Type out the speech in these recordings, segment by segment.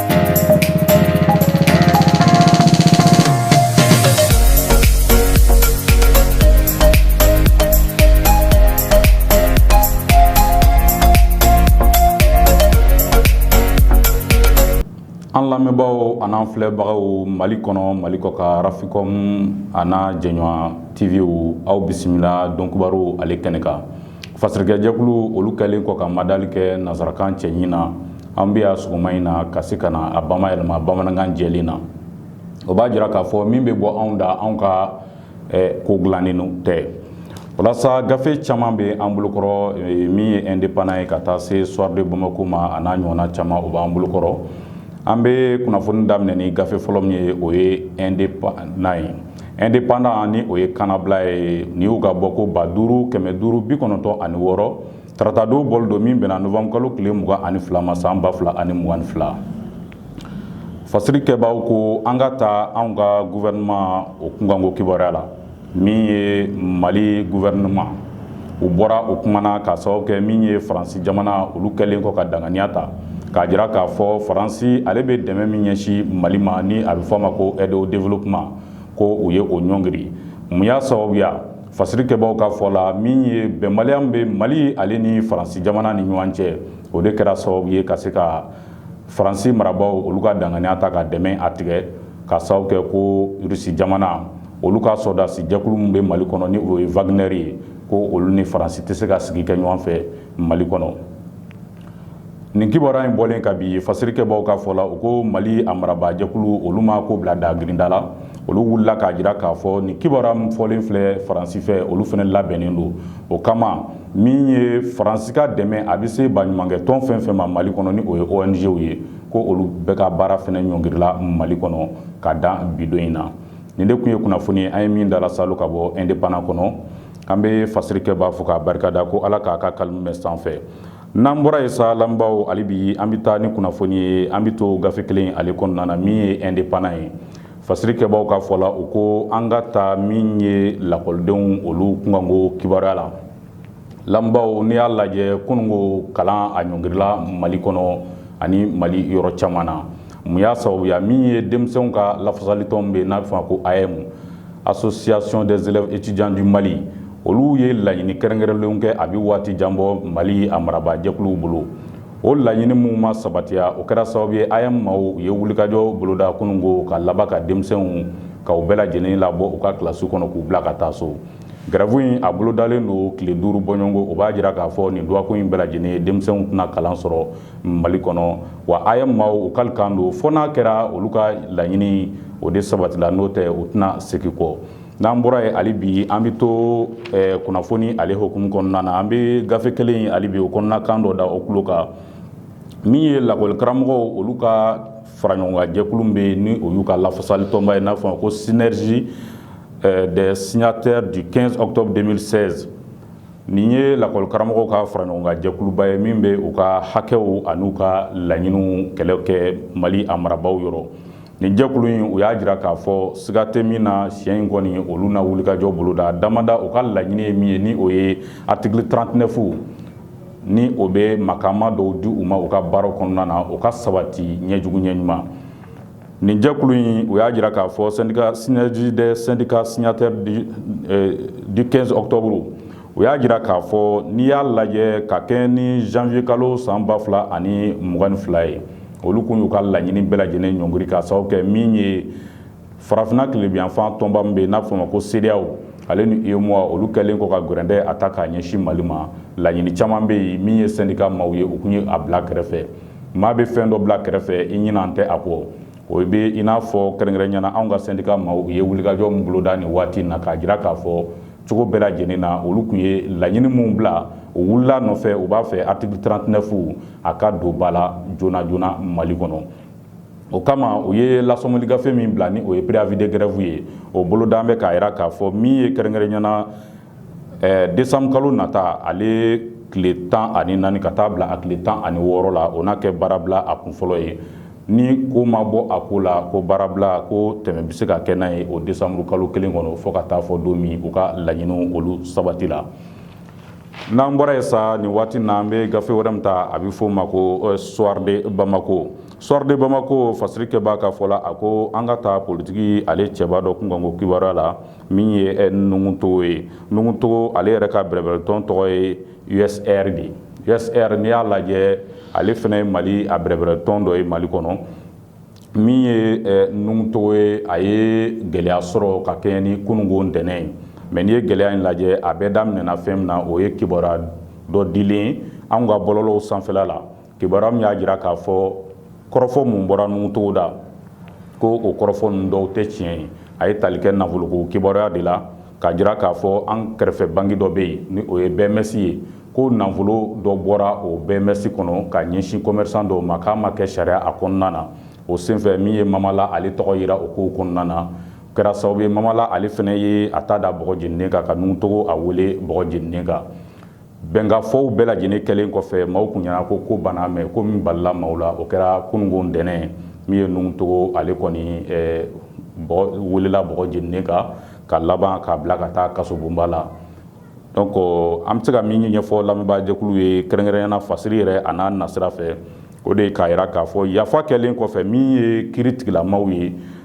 An lamɛnbaaw a n'an filɛbagaw Mali kɔnɔ Mali kɔkan RAFICOM a n'a jɛɲɔɔn TV aw bisimila Don Kibaru ale kɛnɛ kan fasirikɛjɛkulu olu kɛlen kɔ ka madali kɛ nansarakan cɛɲi na an bɛ yan sɔgɔma in na ka se ka na a bamayɛlɛma bamanankan jɛlen na o b'a jira k'a fɔ min bɛ bɔ anw da anw ka ko dilannen tɛ walasa gafe caman bɛ an bolokɔrɔ min ye Indépendant ye ka taa se Soir de Bamako ma a n'a ɲɔgɔn caman o b'an bolokɔrɔ an bɛ kunnafoni daminɛ ni gafe fɔlɔ min ye o ye Indépendant ye Indépendant ni o ye kannabila ye nin y'u ka bɔko ba duuru kɛmɛ duuru bi kɔnɔntɔn ani wɔɔrɔ Taratadon bɔli don min bɛnna novembre kalo tile mugan ani fila ma san ba fila ani mugan ani fila fasirikɛbaw ko an ka taa an ka gouvernement o kunkanko kibaruya la min ye mali gouvernement u bɔra o kumana k'a sababu kɛ min ye faransi jamana olu kɛlen kɔ ka danganiya ta k'a jira k'a fɔ faransi ale bɛ dɛmɛ min ɲɛsin mali ma ni a bɛ fɔ a ma ko aide au développement ko u ye o ɲɔngiri mun y'a sababuya Fasirikɛbaw ka fɔ la min ye bɛnbaliya bɛ mali ale ni faransi jamana ni ɲɔgɔn cɛ o de kɛra sababu ye ka se ka faransi marabagaw olu ka danganiya ta ka dɛmɛ a tigɛ k'a sababu kɛ ko rusi jamana olu ka sɔrɔdasi jɛkulu min bɛ mali kɔnɔ ni o ye Wagner ye ko olu ni faransi tɛ se ka sigi kɛ ɲɔgɔn fɛ mali kɔnɔ nin kibaruya in bɔlen ka bi fasirikɛbagaw ka fɔ la u ko mali a marabaajɛkulu olu ma ko bila dagirinda la olu wulila k'a jira k'a fɔ nin kibaruya min fɔlen filɛ faransi fɛ olu fana labɛnnen don o kama min ye faransi ka dɛmɛ a bɛ se baɲumankɛtɔn fɛn fɛn ma mali kɔnɔ ni o ye ONGw ye ko olu bɛɛ ka baara fana ɲɔngirila mali kɔnɔ ka dan bi don in na nin de tun ye kunnafoni ye an ye min dala salo ka bɔ Indépendant kɔnɔ an bɛ fasirikɛbaa fo k'a barika da ko ala k'a ka kalimu mɛn sanfɛ n'an bɔra yen sa lamɛnbaw hali bi an bɛ taa ni kunnafoni ye an bɛ to gafe kelen ale kɔnɔna na min ye Indépendant ye fasirikɛbaw ka fɔ la u ko an ka taa min ye lakɔlidenw olu kunkanko kibaruya la lamɛnbaw n'i y'a lajɛ kununko kalan a ɲɔngirila mali kɔnɔ ani mali yɔrɔ caman na mun y'a sababuya min ye denmisɛnw ka lafasalitɔn bɛ yen n'a bɛ fɔ ko AEEM association des élèves étudiants du mali olu ye laɲini kɛrɛnkɛrɛnlen kɛ a bɛ waati jan bɔ mali a marabajɛkuluw bolo o laɲini minnu ma sabatiya o kɛra sababu ye AEEM maaw u ye wulikajɔ boloda kununko ka laban ka denmisɛnw k'u bɛɛ lajɛlen labɔ u ka kilasiw kɔnɔ k'u bila ka taa so gɛrɛfu in a bolodalen don tile duuru bɔɲɔgɔnko o b'a jira k'a fɔ nin dɔgɔkun in bɛɛ lajɛlen ye denmisɛnw tɛna kalan sɔrɔ Mali kɔnɔ wa AEEM maaw u kalikan don fo n'a kɛra olu ka laɲini o de sabatila n'o tɛ u tɛna segin kɔ n'an bɔra yen hali bi an bɛ to kunnafoni ale hukumu kɔnɔna na an bɛ gafe kelen hali bi o kɔnɔna kan dɔ da o tulo kan min ye lakɔlikaramɔgɔw olu ka faraɲɔgɔnkan jɛkulu bɛ ni o y'u ka lafasalitɔnba ye n'a fɔ ko synergie des signataires du 15 octobre 2016 Nin ye lakɔli karamɔgɔw ka faraɲɔgɔnkan jɛkuluba ye min bɛ u ka hakɛw ani u ka laɲiniw kɛlɛ kɛ mali a marabagaw yɔrɔ nin jɛkulu in u y'a jira k'a fɔ siga tɛ min na siɲɛ in kɔni olu na wulikajɔ boloda damada u ka laɲini ye min ye ni o ye article 39 ni o bɛ makaama dɔw di u ma u ka baaraw kɔnɔna na o ka sabati ɲɛjugu ɲɛɲuman Nin jɛkulu in u y'a jira k'a fɔ sɛndika synergie des syndicats signataires du 15 octobre u y'a jira k'a fɔ n'i y'a lajɛ ka kɛɲɛ ni janvier kalo san 2022 ye, olu kun y'u ka laɲini bɛɛ lajɛlen ɲɔngiri k'a sababu kɛ min ye farafinna tilebinyanfan tɔnba min bɛ yen n'a bɛ f'o ma ko CEDEAO ale ni UEMOA olu kɛlen kɔ ka gɛrɛndɛ a ta k'a ɲɛsin Mali ma, laɲini caman bɛ yen min ye sɛndika maaw ye u kun ye a bila kɛrɛfɛ. maa bɛ fɛn dɔ bila kɛrɛfɛ i ɲinan tɛ a kɔ o bɛ i n'a fɔ kɛrɛnkɛrɛnnenya na anw ka sɛndika maaw u ye wulikajɔ min boloda nin waati in na k'a jira k'a fɔ cogo bɛɛ lajɛlen na olu kun ye laɲini minnu bila u wulila nɔfɛ u b'a fɛ article 39 a ka don ba la joona joona mali kɔnɔ o kama u ye lasɔmɔli gafe min bila ni o ye préavis de grève ye o bolodalen bɛ k'a jira k'a fɔ min ye kɛrɛnkɛrɛnnenya na Ɛɛ décembre kalo nata ale tile 14 ka taa bila a tile 16 la, o na kɛ baarabila a kun fɔlɔ ye. Ni ko ma bɔ a ko la ko baarabila ko tɛmɛ bɛ se ka kɛ na ye o décembre kalo kelen kɔnɔ fo ka taa fo don min u ka laɲiniw olu sabati la. N'an bɔra yen sa nin waati na an bɛ gafe wɛrɛ min ta a bɛ fɔ o ma ko soir de Bamako. Soir de Bamako fasirikɛbaa ka fɔ la a ko an ka taa politiki ale cɛba dɔ kunkanko kibaruya la. min ye Nuhun Togo ye Nuhun Togo ale yɛrɛ ka bɛrɛbɛrɛtɔn tɔgɔ ye USR de ye USR n'i y'a lajɛ ale fana ye mali a bɛrɛbɛrɛtɔn dɔ ye mali kɔnɔ min ye Nuhun Togo ye a ye gɛlɛya sɔrɔ ka kɛɲɛ ni kununko ntɛnɛn ye mɛ n'i ye gɛlɛya in lajɛ a bɛɛ daminɛna fɛn min na o ye kibaruya dɔ dilen anw ka bɔlɔlɔw sanfɛla la kibaruya min y'a jira k'a fɔ kɔrɔfɔ min bɔra Nuhun Togo da ko o kɔrɔfɔ ninnu dɔw tɛ tiɲɛ ye a ye tali kɛ nafoloko kibaruya de la k'a jira k'a fɔ an kɛrɛfɛ banki dɔ bɛ yen ni o ye BMS ye ko nafolo dɔ bɔra o BMS kɔnɔ ka ɲɛsin kɔmɛrisan dɔw ma k'a ma kɛ sariya a kɔnɔna na o senfɛ min ye Mama La ale tɔgɔ yira o kow kɔnɔna na kɛra sababu ye Mama La ale fana ye a ta da bɔgɔ jeninen kan ka Nuhun Togo a wele bɔgɔ jeninen kan bɛnkafɔw bɛɛ lajɛlen kɛlen kɔfɛ maaw kun ɲɛna ko ko banna mɛ ko min balila maaw la o kɛra kununko ntɛnɛn min ye nuhun togo ale kɔni welela bɔgɔ jeninen kan ka laban k'a bila ka taa kasobonba la donc an bɛ se ka min ɲɛfɔ lamɛnbaajɛkulu ye kɛrɛnkɛrɛnnenya na fasiri yɛrɛ a n'a nasira fɛ o de ye k'a jira k'a fɔ yafa kɛlen kɔfɛ min ye kiritigɛla maaw ye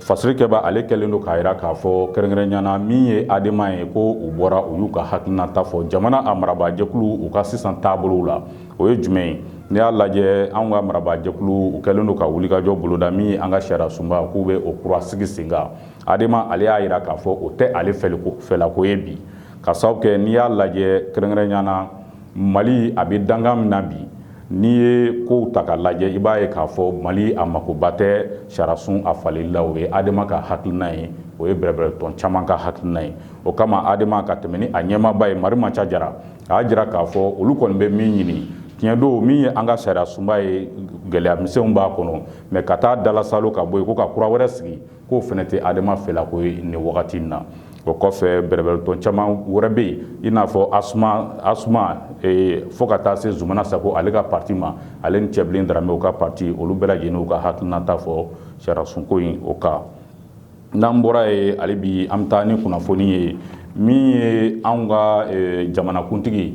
fasirikɛba ale kɛlen don k'a jira k'a fɔ kɛrɛnkɛrɛnnenya na min ye adema ye ko u bɔra u y'u ka hakilinata fɔ jamana a marabaajɛkulu u ka sisan taabolow la o ye jumɛn ye n'i y'a lajɛ an ka marabaajɛkulu u kɛlen don ka wulikajɔ boloda min ye an ka sariya sunba k'u bɛ o kura sigi sen kan adema ale y'a jira k'a fɔ o tɛ ale fɛlako ye bi k'a sababu kɛ n'i y'a lajɛ kɛrɛnkɛrɛnnenya na mali a bɛ dankan min na bi N'i ye kow ta ka lajɛ i b'a ye k'a fɔ mali a makoba tɛ sariyasun a faleli la o ye adema ka hakilina ye o ye bɛrɛbɛrɛtɔn caman ka hakilina ye o kama adema ka tɛmɛn ni a ɲɛmaaba ye marimanca jara a y'a jira k'a fɔ olu kɔni bɛ min ɲini tiɲɛ don min ye an ka sariya sunba ye gɛlɛya misɛnw b'a kɔnɔ mɛ ka taa dala sa k'a bɔ yen ko ka kura wɛrɛ sigi k'o fana tɛ adema fɛlako ye nin wagati in na o kɔfɛ bɛrɛbɛrɛtɔn caman wɛrɛ bɛ yen i n'a fɔ asuma fo ka taa se zumana sako ale ka pati ma ale ni cɛbilen darame u ka pati olu bɛɛ lajɛlen y'u ka hakilinata fɔ sariyasunko in o kan n'an bɔra yen hali bi an bɛ taa ni kunnafoni ye min ye an ka jamanakuntigi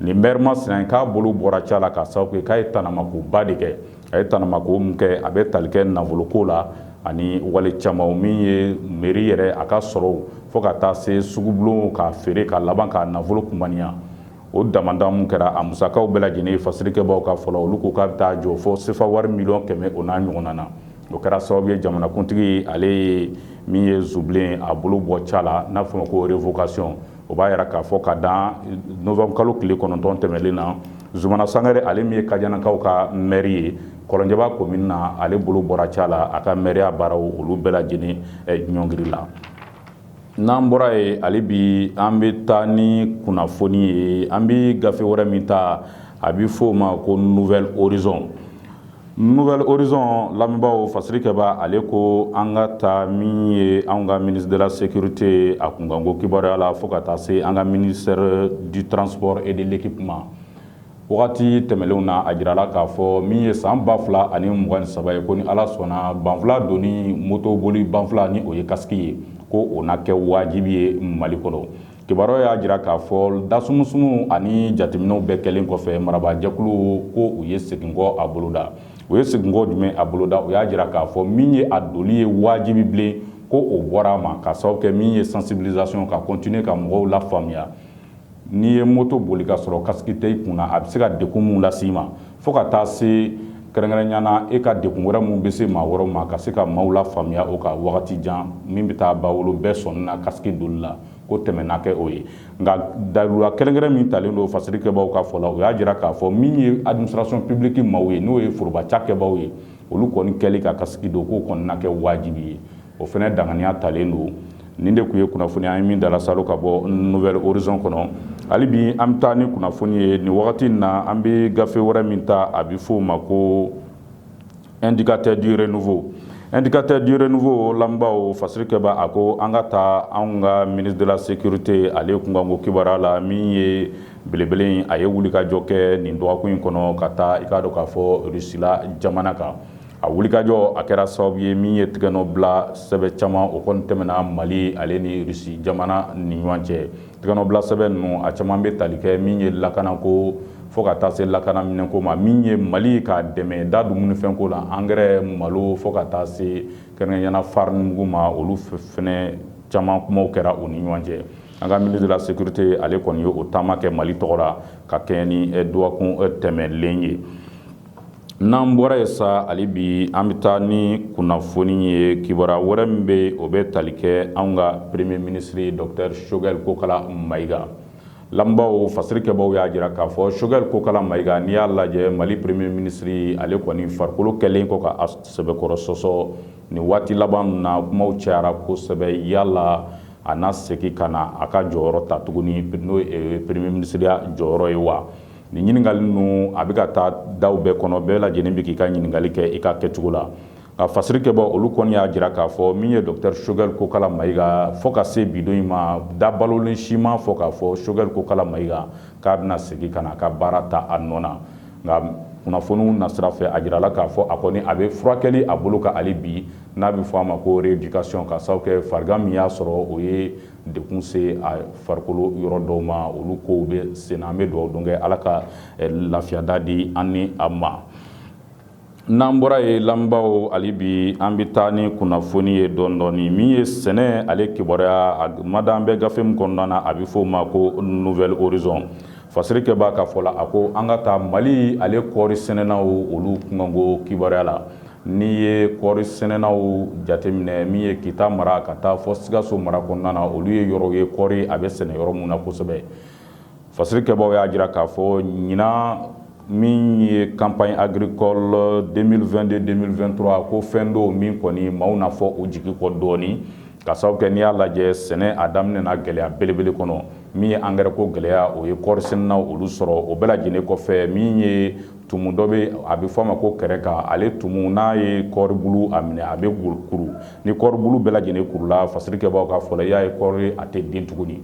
nin mɛri masina k'a bolo bɔra ca la k'a sababu kɛ k'a ye tanamakoba de kɛ a ye tanamako min kɛ a bɛ tali kɛ nafoloko la ani wale caman min ye mɛri yɛrɛ a ka sɔrɔw fo ka taa se sugubulon k'a feere ka laban k'a nafolo kunmaniya o damadamu kɛra a musakaw bɛɛ lajɛlen fasirikɛbaw ka fɔ la olu ko k'a bɛ taa jɔ fo sefa wari miliyɔn kɛmɛ o n'a ɲɔgɔnna na o kɛra sababu ye jamanakuntigi ale ye min ye zubilen a bolo bɔ ca la n'a fɔ ma ko révocation o b'a jira k'a fɔ ka dan novembre kalo tile kɔnɔntɔn tɛmɛlen na zumana sangare ale min ye kajanakaw ka mɛri ye kɔlɔnjɛba komini na ale bolo bɔra ca la a ka mɛriya baaraw olu bɛɛ lajɛlen ɲɔngiri la n'an bɔra yen hali bi an bɛ taa ni kunnafoni ye an bɛ gafe wɛrɛ min ta a bɛ fɔ o ma ko nouvel horizon Nouvel horizon lamɛnbaaw fasirikɛba ale ko an ka taa min ye an ka ministre de la sécurité a kunkanko kibaruya la fo ka taa se an ka ministère du transport et de l'équipement wagati tɛmɛnenw na a jirala k'a fɔ min ye san 2023 ye ko ni Ala sɔnna banfula donni moto boli banfula ni o ye casque ye ko o na kɛ wajibi ye Mali kɔnɔ kibaruya y'a jira k'a fɔ dasumusumuw ani jateminɛw bɛɛ kɛlen kɔfɛ marabagajɛkulu ko u ye seginkɔ a boloda u ye seginkɔ jumɛn a boloda u y'a jira k'a fɔ min ye a doli ye wajibi bilen ko o bɔra a ma ka sababu kɛ min ye sensibilisation ka continuer ka mɔgɔw lafaamuya n'i ye moto boli ka sɔrɔ kasiki tɛ i kunna a bɛ se ka degun minnu lase i ma fo ka taa se kɛrɛnkɛrɛnnenya la e ka degun wɛrɛ minnu bɛ se maa wɛrɛw ma ka se ka maaw lafaamuya o kan wagati jan min bɛ taa ba wolo bɛɛ sɔnna kasiki doli la ko tɛmɛna kɛ o ye nka daluya kɛrɛnkɛrɛn min talen don fasirikɛbaaw ka fɔ la o y'a jira k'a fɔ min ye administration publique maaw ye n'o ye forobacakɛbaaw ye olu kɔni kɛli ka kasiki don k'o kɔni na kɛ wajibi ye o fana danganiya talen don nin de tun ye kunnafoni an ye min dala salo ka bɔ nouvel horizon kɔnɔ hali bi an bɛ taa ni kunnafoni ye nin wagati in na an bɛ gafe wɛrɛ min ta a bɛ f'o ma ko indicateur du renouveau indicateur du renouveau lamɛnbaaw fasirikɛba a ko an ka taa anw ka ministre de la sécurité ale kunkanko kibaruya la min ye belebele ye a ye wulikajɔ kɛ nin dɔgɔkun in kɔnɔ ka taa i k'a dɔn k'a fɔ rusila jamana kan a wulikajɔ a kɛra sababu ye min ye tɛgɛnɔbila sɛbɛn caman o kɔni tɛmɛna mali ale ni rusi jamana ni ɲɔgɔn cɛ tɛgɛnɔbila sɛbɛn ninnu a caman bɛ tali kɛ min ye lakana ko fo ka taa se lakana minɛn ko ma min ye mali ka dɛmɛ da dumunifɛn ko la angɛrɛ malo fo ka taa se kɛrɛnkɛrɛnnenya la farinmugu ma olu f- fɛnɛ caman kumaw kɛra u ni ɲɔgɔn cɛ an ka ministre de la sécurité ale kɔni ye o taama kɛ mali tɔgɔ la ka kɛɲɛ ni eh, dɔgɔkun eh, tɛmɛnlen ye n'an bɔra yen sa hali bi an bɛ taa ni kunnafoni ye kibaru wɛrɛ min bɛ yen o bɛ tali kɛ an ka premier ministre docteur choguel kokalla maïga lamɛnbaaw fasirikɛbaaw y'a jira k'a fɔ choguel kokalla maïga n'i y'a lajɛ mali premier ministre ale kɔni farikolo kɛlen kɔ k'a sɛbɛkɔrɔ sɔsɔ nin waati laban na kumaw cayara kosɛbɛ yala a na segin ka na a ka jɔyɔrɔ ta tuguni n'o ye premier ministre ya jɔyɔrɔ ye wa Nin ɲininkali ninnu a bɛ ka taa daw bɛɛ kɔnɔ bɛɛ lajɛlen bɛ k'i ka ɲininkakali kɛ i ka kɛcogo la nka fasirikɛbaaw olu kɔni y'a jira k'a fɔ min ye docteur choguel kokalla maïga fo ka se bi don in ma da balolen si m'a fɔ k'a fɔ choguel kokalla maïga k'a bɛna segin ka na a ka baara ta a nɔ na nka kunnafoniw na sira fɛ a jirala k'a fɔ a kɔni a bɛ furakɛli a bolo kan hali bi n'a bɛ fɔ a ma ko rééducation ka sababu kɛ farigan min y'a sɔrɔ o ye degun se a farikolo yɔrɔ dɔw ma olu kow bɛ sen na an bɛ dugawu don kɛ ala ka lafiyada di an ni a ma n'an bɔra yen lamɛnbaaw hali bi an bɛ taa ni kunnafoni ye dɔɔni dɔɔni min ye sɛnɛ ale kibaruya a mada an bɛ gafe min kɔnɔna na a bɛ f'o ma ko nouvel horizon fasirikɛbaa ka fɔ la a ko an ka taa mali ale kɔɔri sɛnɛnaw olu kunkanko kibaruya la N'i ye kɔɔri sɛnɛnaw jateminɛ min ye kita mara ka taa fɔ sikaso mara kɔnɔna na olu ye yɔrɔ ye kɔɔri a bɛ sɛnɛ yɔrɔ min na kosɛbɛ fasirikɛbaaw y'a jira k'a fɔ ɲinan min ye campagne agricole 2022-2023 ko fɛn don min kɔni maaw na fɔ u jigi kɔ dɔɔnin ka sababu kɛ n'i y'a lajɛ sɛnɛ a daminɛna gɛlɛya belebele kɔnɔ min ye angɛrɛ ko gɛlɛya o ye kɔɔri sɛnɛnaw olu sɔrɔ o bɛɛ lajɛlen kɔfɛ min ye tumu dɔ bɛ a bɛ f'a ma ko kɛrɛka ale tumu n'a ye kɔɔribulu a minɛ a bɛ kuru ni kɔɔribulu bɛɛ lajɛlen kurula fasiri kɛbagaw ka fɔ la i y'a ye kɔɔri a tɛ den tuguni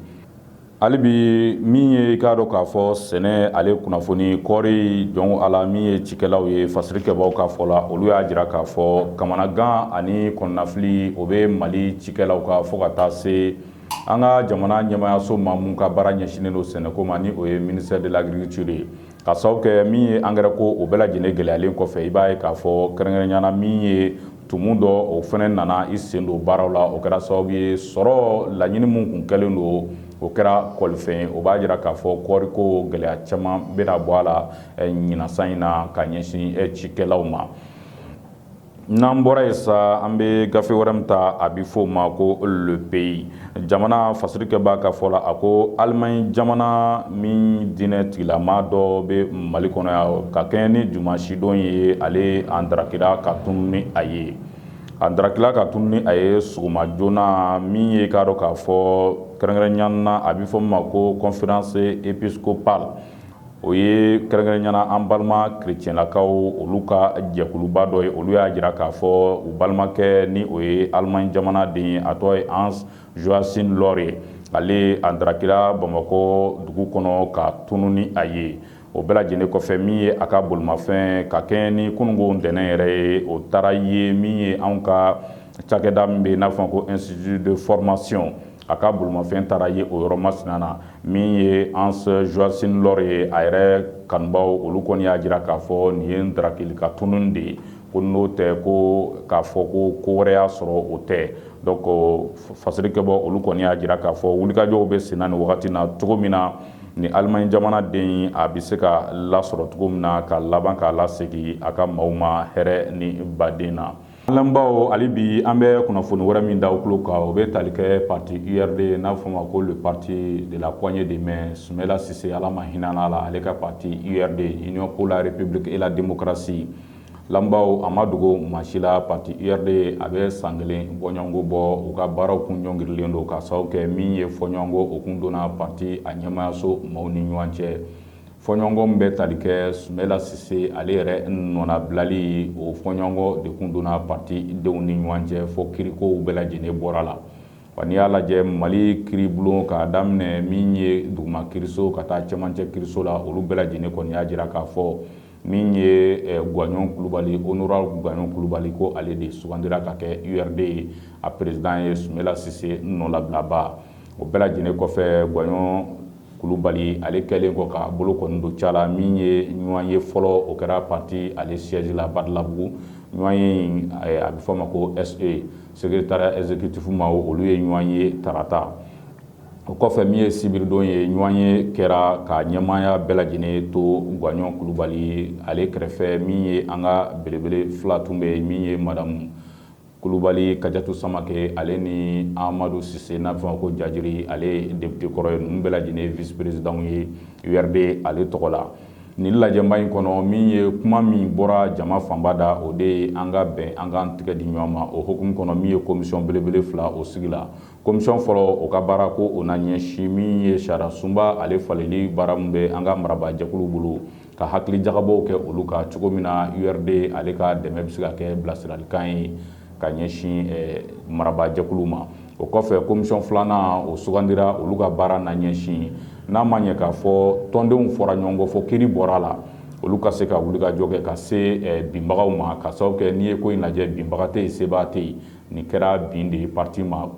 hali bi min ye i k'a dɔn k'a fɔ sɛnɛ ale kunnafoni kɔɔri jɔn ala min ye cikɛlaw ye fasiri kɛbagaw ka fɔ la olu y'a jira k'a fɔ kamanagan ani kɔnɔnafili o bɛ mali cikɛlaw kan fɔ ka taa se an ka jamana ɲɛmaayaso maa minnu ka baara ɲɛsinnen don sɛnɛko ma ni o ye ministère de l'agriculture ye ka sababu kɛ min ye angɛrɛ ko o bɛɛ lajɛlen gɛlɛyalen kɔfɛ i b'a ye k'a fɔ kɛrɛnkɛrɛnnenya na min ye tumu dɔ o fana nana i sen don baaraw la o kɛra sababu ye sɔrɔ laɲini min tun kɛlen don o kɛra kɔlifɛn ye o b'a jira k'a fɔ kɔɔriko gɛlɛya caman bɛna bɔ a la ɲinan san in na ka ɲɛsin cikɛlaw ma n'an bɔra yen sa an bɛ gafe wɛrɛ min ta a bɛ fɔ o ma ko le pays jamana fasirikɛbaa ka fɔ la a ko alimaɲi jamana min diinɛ tigilama dɔ bɛ mali kɔnɔ yan ka kɛɲɛ ni dimansidon ye ale an darakira ka tunun ni a ye a darakila ka tunun ni a ye sɔgɔma joona min ye k'a dɔn k'a fɔ kɛrɛnkɛrɛnnenya na a bɛ fɔ min ma ko conférence épiscopale o ye kɛrɛnkɛrɛnnenya na an balima kerecɛnlakaw olu ka jɛkuluba dɔ ye olu y'a jira k'a fɔ u balimakɛ ni o ye alimaɲi jamana den ye a tɔgɔ ye Hans Joachim Lohre ye ale a darakira bamakɔ dugu kɔnɔ ka tunun ni a ye o bɛɛ lajɛlen kɔfɛ min ye a ka bolimafɛn ka kɛɲɛ ni kununko ntɛnɛn yɛrɛ ye o taara ye min ye anw ka cakɛda min bɛ n'a fɔ ma ko institut de formation A ka bolimafɛn taara ye o yɔrɔ masina na min ye Hans Joachim Lohre ye a yɛrɛ kanubaw olu kɔni y'a jira k'a fɔ nin ye darakili ka tunun de ye ko n'o tɛ ko k'a fɔ ko ko wɛrɛ y'a sɔrɔ o tɛ donc fasirikɛbaaw olu kɔni y'a jira k'a fɔ wulikajɔw bɛ sen na nin wagati na cogo min na ni alimaɲi jamana den a bɛ se ka lasɔrɔ cogo min na ka laban k'a lasegin a ka maaw ma hɛrɛ ni baden na An lamɛnbaw hali bi an bɛ kunnafoni wɛrɛ min da aw tulo kan o bɛ tali kɛ parti URD n'a fɔ ma ko le parti de la poignée de main Sumayila Sise ala ma hinɛ a la ale ka parti URD Union pour la République et la démocratie lamɛnbaw a ma dogo maa si la parti URD a bɛ san kelen bɔɲɔgɔnko bɔ u ka baaraw kun ɲɔngirilen don ka sababu kɛ min ye fɔɲɔgɔnko o tun donna parti a ɲɛmaayaso maaw ni ɲɔgɔn cɛ fɔɲɔgɔnkɔ bɛ tali kɛ sumayila sise ale yɛrɛ nɔnabilali o fɔɲɔgɔnkɔ de kun donna pati denw ni ɲɔgɔn cɛ fɔ kiirikow bɛɛ lajɛlen bɔra a la wa n'i y'a lajɛ mali kiiribulon k'a daminɛ min ye duguma kiiriso ka taa cɛmancɛ kiiriso la olu bɛɛ lajɛlen kɔni y'a jira k'a fɔ min ye gwaɲɔn kulubali onorabulu gwaɲɔn kulubali ko ale de sugandira ka kɛ urd ye a peresidan ye sumayila sise nɔlabilaba o bɛɛ lajɛlen kɔfɛ gwaɲɔn kulubali ale kɛlen kɔ k'a bolo kɔni don ca la min ye ɲɔgɔnye fɔlɔ o kɛra pati ale siyɛzi la badalabugu ɲɔgɔnye a bɛ f'a ma ko ɛse sekeretariya ɛzekitifu ma olu ye ɲɔgɔn ye tarata o kɔfɛ min ye sibiridon ye ɲɔgɔnye kɛra ka ɲɛmaaya bɛɛ lajɛlen to gwaɲɔn kulubali ale kɛrɛfɛ min ye an ka belebele fila tun bɛ yen min ye madamu kulubali kajatu samake ale ni amadu sise n'a bɛ f'a ma ko jajiri ale depite kɔrɔ ye ninnu bɛɛ lajɛlen visiperesidanw ye urd ale tɔgɔ la nin lajɛba in kɔnɔ min ye kuma min bɔra jama fanba da o de ye an ka bɛn an k'an tɛgɛ di ɲɔgɔn ma o hukumu kɔnɔ min ye komisiyɔn belebele fila o sigila komisiyɔn fɔlɔ o ka baara ko o na ɲɛsin min ye sariyasunba ale faleli baara min bɛ an ka marabaajɛkulu bolo ka hakili jagabɔw kɛ olu kan cogo min na urd ale ka dɛmɛ bɛ se ka kɛ bilasiralikan ye ka ɲɛsin marabaajɛkulu ma o kɔfɛ komisiyɔn filanan o sugandira olu ka baara na ɲɛsin n'a ma ɲɛ k'a fɔ tɔndenw fɔra ɲɔgɔn kɔ fɔ kiiri bɔra a la olu ka se ka wuli ka jɔ kɛ ka se binbagaw ma ka sababu kɛ n'i ye ko in lajɛ binbaga tɛ yen sebaa tɛ yen nin kɛra bin de ye pati ma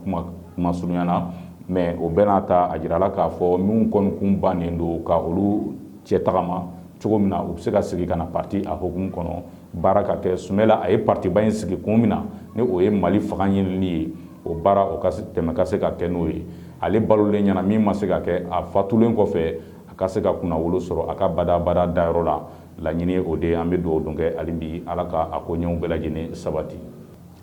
kumasurunya na mɛ o bɛɛ n'a ta a jirala k'a fɔ minnu kɔni kun bannen don ka olu cɛ tagama cogo min na u bɛ se ka segin ka na pati a hukumu kɔnɔ baara ka kɛ sumayila a ye patiba in sigi kun min na ni o ye mali fanga ɲinini ye o baara o ka tɛmɛ ka se ka kɛ n'o ye ale balolen ɲɛna min ma se ka kɛ a fatulen kɔfɛ a ka se ka kunnawolo sɔrɔ a ka badabada dayɔrɔ la laɲini o de an bɛ dugawudon kɛ hali bi ala ka a koɲɛw bɛɛ lajɛlen sabati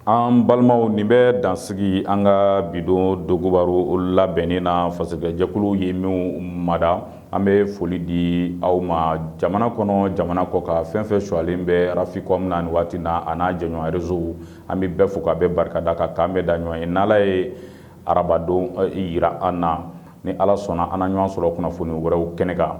An balimaw nin bɛ dansigi an ka bidon dugubaro labɛnni na fasojɛkulu ye min mada an bɛ foli di aw ma jamana kɔnɔ jamana kɔkan fɛn fɛn sɔgɔlen bɛ rafikɔmu na nin waati na a n'a jɛɲɔgɔn rezow an bɛ bɛɛ fo ka bɛɛ barika da ka kanbɛn da ɲɔgɔn ye n'ala ye arabadon jira an na ni ala sɔnna an na ɲɔgɔn sɔrɔ kunnafoni wɛrɛw kɛnɛ kan